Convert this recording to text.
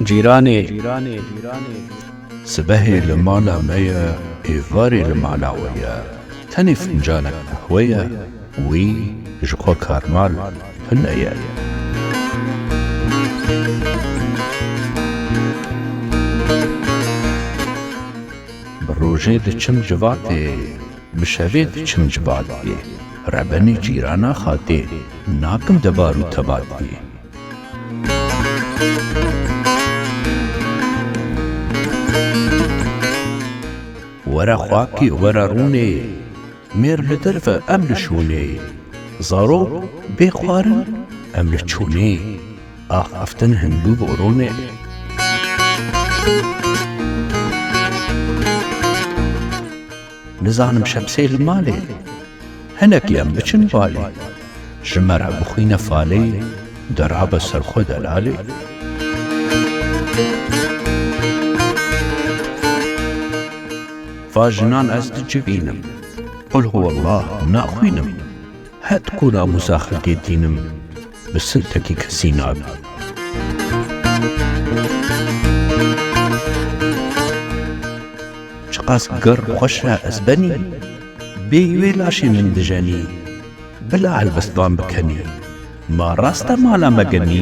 Cîranê Sibehê li mala me ye êvarê li mala we ye tenê fincanek qehwe ye wî ji xwe karmal hune ye. Bi rojê diçim civatê, bi şevê diçim civatê, rebenê cîrana xatê, nakim debar û tebatê. Were xakê, were rûnê. Mêr li derv e em li şûnê. Zarok bê xwarin em li çûnê. Ax ev tim hindû boronê. Nizanim şemsê li malê. Hinekî em biçin balê. Ji me re bixwîne falê. Dirabe ser xwe delalê. Va jinan ez tu çi bînim? Qul huwellah naxwînim. Het ku namûsa xelkê tînim, bi sintekî kesî nabî. Çiqas girr xweş e ez benî. Bê wê laşê min dijenî. Bila helbestvan bikenî. Ma rast e mala me genî.